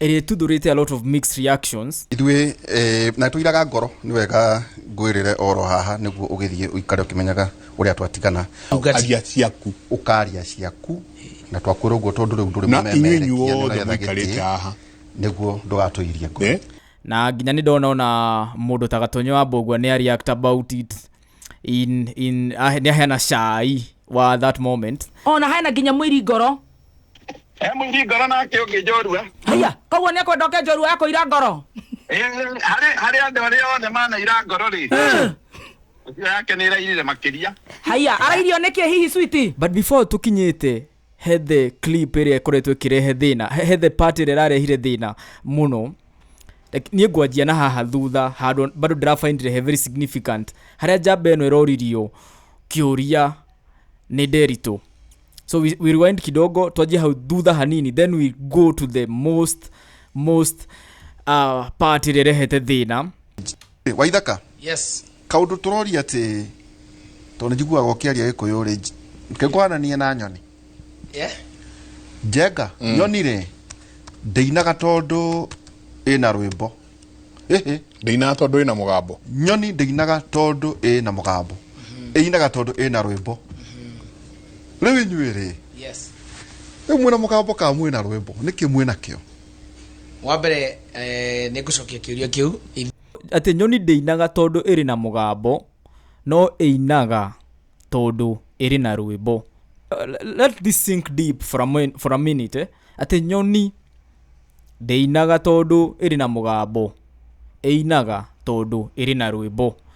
ĩrĩtuthũrĩte a lot of mixed reactions ithuĩ eh, na tũiraga ngoro nĩ wega ngwĩrĩre oro haha nĩguo ũgĩthiĩ ũikare ũkĩmenyaga ũrĩa twatigana aria ciaku ũkaria ciaku na twakwĩra ũguo tondũ rĩu ndũrĩ Na mũmemerekia, inyuĩ inyuothe nĩũretha mũikarĩte gĩtĩ, haha. nĩguo ndũgatũirie ngoro Eh? na nginya nĩ ndona ona mũndũ ta gatonyo wa mbũgua nĩ areact about it in in ah, nä aheana cai wa that moment ona hena nginya mwiri ngoro he mũiri ngoro nake ũngĩ njorua haya koguo nä akwenda oke njorua yakå ira ngoro Eh, harĩ harĩ andũ arĩa othe manaira ngoro rĩ ũcio yake nä ĩrairire makĩria haya arairio nä kä hihi switi but before tå kinyä te he the clip ĩrĩa ĩkoretwo ĩkĩrehe thĩna he he the part ĩrĩa ĩrarehire thĩna mũno Like, niĩ ngwanjia na haha thutha handũ bado ndĩrabaindire he very significant harĩa njamba ĩno ĩroririo kĩũria nĩ nderitũ so we, we rewind kidogo twanjie hau thutha hanini then we go to the most most uh, part ĩrĩa ĩrehete thĩna Eh, waithaka yes kaundu turoria ati tondu njiguaga ukiaria gikuyu ri ngikuhananie na nyoni yeah njenga nyoni ri ndeinaga tondu ina rwimbo Hihi. ndĩinaga tondũ ĩna mũgambo nyoni ndĩinaga tondũ ĩna mũgambo ĩinaga tondũ ĩna rwĩmbo rĩu inyuĩ rĩ yes rĩu mwĩna mũgambo ka mwĩna rwĩmbo nĩkĩ mwĩna kĩo wa mbere eh, nĩ ngũcokia kĩũria kĩu atĩ nyoni ndĩinaga tondũ ĩrĩ na mũgambo no ĩinaga tondũ ĩrĩ na rwĩmbo let this sink deep for a, for a minute eh? atĩ nyoni ndĩinaga tondũ ĩrĩ na mũgambo ĩinaga tondũ ĩrĩ na rwĩmbo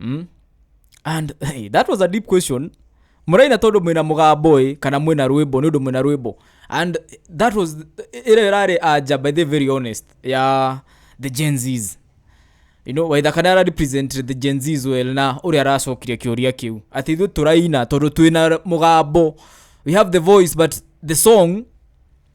mm? and hey, that was a deep question mũraina tondũ mwĩna mũgambo ĩ kana mwĩna rwĩmbo nĩ ũndũ mwĩna rwĩmbo and that was ĩrĩa ĩrarĩ anja by the very honest ya the gen zs you know, waitha kana ara represent the gen zs well na ũrĩa aracokirie kĩũria kĩu atĩ ithuĩ tũraina tondũ twĩna mũgambo we have the voice but the song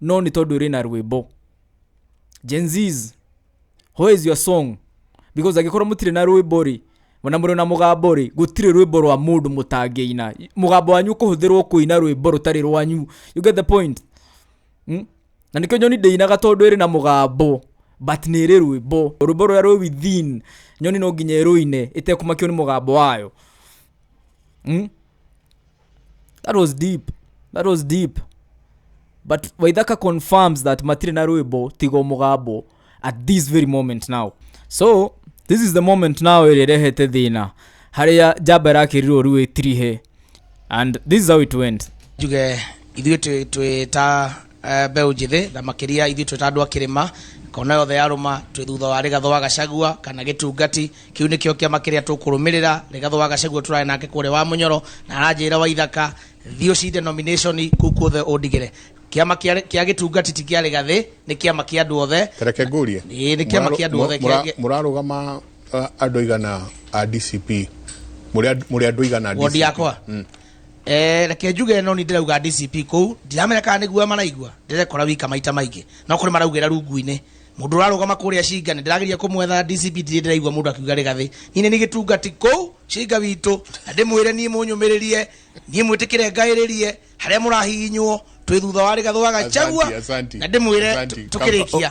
no nĩ tondũ ĩrĩ na rwĩmbo Gen Zs, who is your song because angĩkorwo mũtirĩ na rwĩmbo rĩ na mũrĩ na mũgambo rĩ gũtirĩ rwĩmbo rwa mũndũ mũtangĩina mũgambo wanyu ũkũhũthĩrwo kũina rwĩmbo rũtarĩ rwanyu you get the point mm? na nĩkĩo nyoni ndĩinaga tondũ ĩrĩ na mũgambo but nĩ ĩrĩ rwĩmbo rwĩmbo rũrĩa rwĩ within nyoni no nginya ĩrũine ĩtekũmakio nĩ mũgambo wayo mm? that was deep that was deep but waithaka confirms that matire na rwimbo tigo mugambo at this very moment now so this is the moment now ĩrĩa ĩrehete thĩna harĩa njamba ĩrakĩrirwo rĩu ĩtirihe and this is how it went njuge ithuĩ twĩ- twĩ ta eh, mbeũ njĩthĩ na makĩria ithuĩ twĩ ta andũ a kĩrĩma kona yothe yarũma twĩ thutha wa rĩgatho wa gacagua kana gĩtungati kĩu nĩkĩo kĩama kĩrĩa tũkũrũmĩrĩra rĩgatho wa gacagua tũrae nake kũrĩa wa mũnyoro na aranjĩra wa ithaka thiĩ ũcinde nomination kũu kuothe ũndigĩre kĩama kĩa kĩa gĩtungati ti kĩa rĩgathĩ nĩ kĩama kĩa andũ othe tareke ngũrie Ĩĩ, nĩ kĩama kĩa andũ othe Mũra- kĩa- mũrarũgama uh, andũ igana a dcp mũrĩ and- mũrĩ andũ igana a wondi DCP? yakwa Eh, reke njuge no ni ndirauga DCP kuu ndiramenya kana nĩguo maraigua ndirekora wika maita maingĩ no kũrĩ maraugĩra rungu-inĩ mũndũ ũrarũgama kũrĩa cinga nĩ ndĩrageria kũmwetha DCP ndirĩ ndĩraigua mũndũ akiuga rĩgathĩ niĩ nĩ gĩtungati kuu cinga witũ na ndĩmwĩre niĩ mũnyũmĩrĩrie niĩ mwĩtĩkĩre ngaĩrĩrie harĩa mũrahihinywo twĩ thutha wa rĩgathũ wa gachagua Asante, asante. na ndĩmwĩre Asante. tũ- tũkĩrĩkia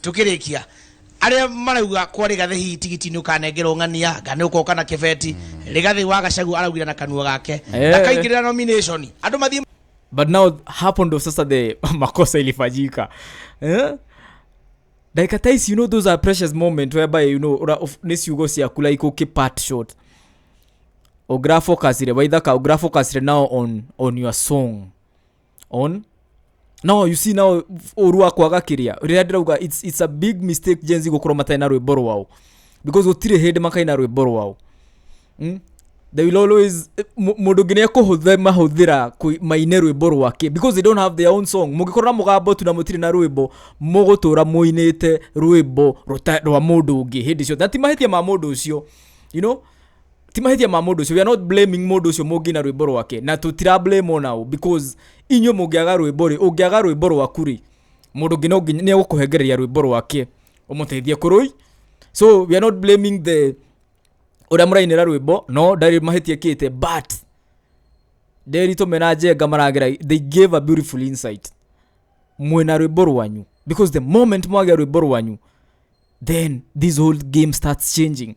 tukirikia aria marauga kwa rigathi hihi tigiti ni ukanengerwo ng'ania nga ni ukoka na kibeti rigathi wa gacagu araugire na kanua gake Eh. ndakaingirira nomination andu mathie but now hapo ndo sasa the makosa ilifanyika eh? dakika tais you know those are precious moment whereby you know ura- of- nĩ ciugo ciaku like ũkĩ part short ũgrafocasire waithaka ũgrafocasire now on, on your song on no you see now ũru wa kwaga kĩrĩa rĩrĩa ndĩrauga it's, it's a big mistake jenzi gũkorwo matarĩ na rwĩmbo rwao because gũtirĩ hĩndĩ makaina rwĩmbo rwao mm? they will always mu- mũndũ ũngĩ nĩ ekũhũthĩ mahũthĩra kũi- maine rwĩmbo rwake because they don't have their own song mũngĩkorwo na mũgambo tu na mũtirĩ na rwĩmbo mũgũtũra mũinĩte rwĩmbo rũta- rwa mũndũ ũngĩ hĩndĩ ciothe na ti mahĩtia ma mũndũ ũcio you know ti mahĩtia ma mũndũ ũcio we are not blaming mũndũ ũcio mũngĩ na rwĩmbo rwake na tũtira blame ona ũ because inyuĩ mũngĩaga rwĩmbo rĩ ũngĩaga rwĩmbo rwaku rĩ mũndũ ũngĩ no nginya- nĩ egũkũhengereria rwĩmbo rwake ũmũteithie kũrũi so we are not blaming the ũrĩa mũrainĩra rwĩmbo no ndarĩ mahĩtia kĩte but nderitũ mena njenga maragera they gave a beautiful insight mwĩna rwĩmbo rwanyu because the moment mwagĩa rwĩmbo rwanyu then this whole game starts changing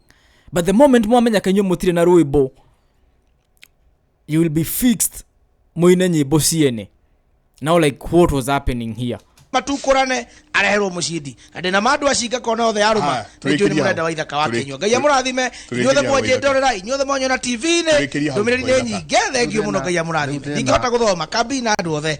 but the moment mwamenya kanyuo mutire na rwimbo you will be fixed muine nyimbo ciene now like what was happening here matukũrane areherwo mũcindi na ndĩna ma andũ acinga kona othe arũma Haya, nĩnjũĩ nĩ tũrĩkĩrie mũrenda hau. wa ithaka wa Tũrĩ- kenyua ngai amũrathime tũrĩkĩrie inyuothe hau mwanjĩte ithaka. orera inyuothe mwanyona tv-inĩ Tũrĩkĩrie hau ndũmĩrĩri nĩ ithaka. nyingĩ thengiũ mũno ngai amũrathime Rĩu tena. ndingĩhota gũthoma kambi na andũ othe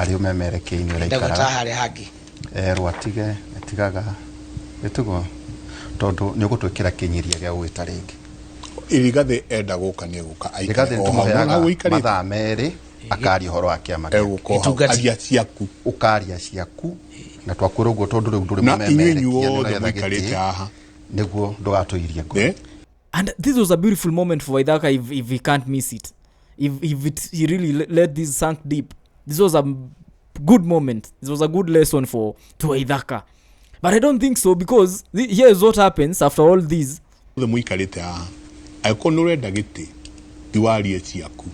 arĩ ũmemerekei-inĩ ndagũta ũraikaraga harĩa hangĩ Eh, rwatige atigaga gĩtugo tondũ nĩ ũgũtwĩkĩra kĩnyiria gĩa gũgĩta rĩngĩ irigathĩ enda gũka nĩ egũka irigathĩ nĩ tũmũheaga mathaa merĩ akaria ũhoro wa kĩama gĩake. Itungati. aria ciaku ũkaria ciaku na twakwĩra ũguo tondũ rĩu ndũrĩ Na inyuĩ mũmemerekia inyuothe nĩgetha mũikarĩte gĩtĩ, haha. nĩguo ndũgatũirie ngoro Eh? and this was a beautiful moment for waidhaka if, if he can't miss it if, if it, he really le- let this sunk deep this was a m- good moment this was a good lesson for to waidhaka but i don't think so because th- here is what happens after all this othe muikarite haha angĩkorwo nä å renda gä tä tiwarie ciaku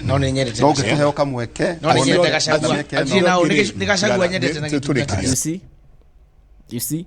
no nä nyendete no gacagua. ngĩkĩheo kamweke no nä one- nyendete gacagua na mĩeke ĩno. Athiĩ nao, nĩ gĩ- nĩ gacagua nyendete na Tũ- gĩtunda tũrĩkĩrie. kĩu. you see you see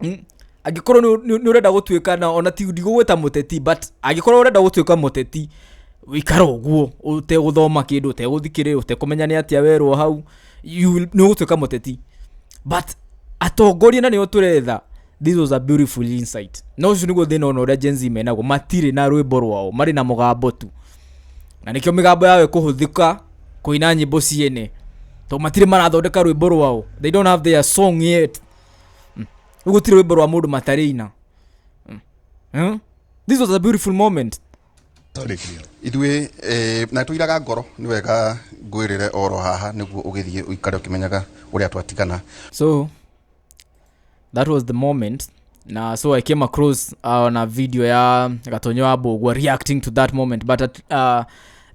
Hmm? angĩkorwo nĩ- nĩ nĩ ũrenda gũtuĩka na ona ti ndigũgwĩta mũteti but angĩkorwo ũrenda gũtuĩka mũteti wĩikara ũguo ũtegũthoma kĩndũ ũtegũthikĩrĩria ũtekũmenya nĩ atĩa werwo hau you will- nĩ ũgũtuĩka mũteti but atongoria na nĩo tũretha this was a beautiful insight na ũcio nĩguo thĩna ona ũrĩa Gen Z menagwo matirĩ na rwĩmbo rwao marĩ na mũgambo tu na nĩkĩo mĩgambo yao ĩkũhũthĩka kũina nyĩmbo ciene tondũ matirĩ marathondeka rwĩmbo rwao they don't have their song yet Mm. Rĩu gũtirĩ rwĩmbo rwa mũndũ matarĩina Mm. Huh? this was a beautiful moment ithuĩ eh, na tũiraga ngoro nĩ wega ngwĩrĩre oro haha nĩguo ũgĩthiĩ ũikare ũkĩmenyaga ũrĩa twatigana so that was the moment na so i came across uh, on a video ya gatonyo wa mbũgua reacting to that moment but at, uh,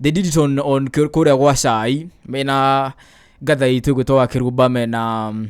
they did it on, on kũ- kũrĩa gwa cai mena gatha itũ ĩgwĩtwo wa kĩrumba mena um,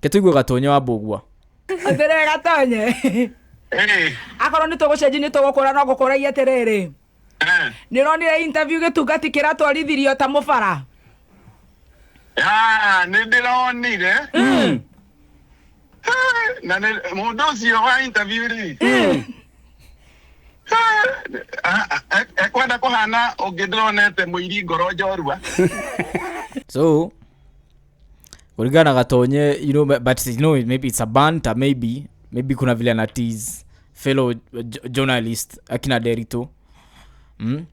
Ke tuigue gatonye wa mbugua. atĩrĩ gatonye Eh, akorwo nĩ tũgũcenji nĩ tũgũkũra no ngũkũragia atĩrĩrĩ eh. nĩ ũronire interview gĩtungati kĩratwarithirio ta mũbara Ah, nĩ ndĩronire Ah, na nĩ mũndũ ũcio wa interview rĩ Ah, ah, ah, ekwenda kũhana ũngĩ ndĩronete mũiri ngoro njorua So kulingana katonye you know, but you know, maybe it's a banter maybe maybe kuna vile ana tease fellow uh, jo- journalist akina derito mm?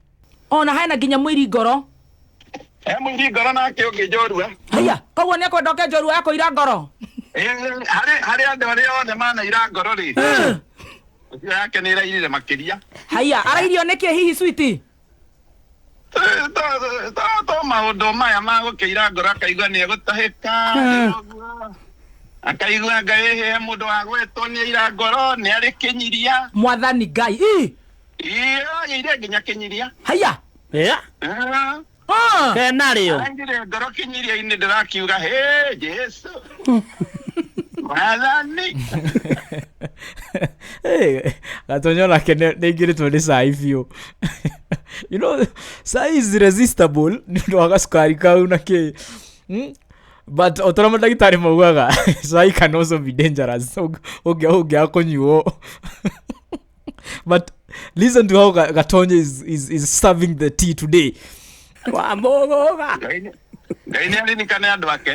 ona hena nginya mwiri ngoro he mũingĩ ngoro nake ũngĩ njorua haya koguo nä ekwenda oke njorua yako ira ngoro Ĩĩ, harĩ harĩ andũ arĩa othe manaira ngoro rĩ ũcio yake nĩ ĩrairire makĩria haya arairio nä kä hihi switi to maundu maya magukiira ngoro akaigua ni egutahika akaigua ngai he mundu wa gwetwo ni aira ngoro ni ari kinyiria mwathani ngai ii iyo ire nginya kinyiria haya ya Ah, ah. kena rĩo arangire ngoro kinyiria-inĩ ndĩrakiuga he jesu Mwathani. hey, gatonyo nake nĩaingĩrĩtwo nĩ cai biũ you know cai is resistible nĩ ũndũ wa gacukari kau na kĩ Hmm? but o ta ũrĩa mandagĩtarĩ maugaga cai can also be dangerous ũngĩaga kũnyuo but listen to how Ga- gatonye is, is, is serving the tea today wamũgũga Ngai nĩ- ngai nĩ aririkane andå ake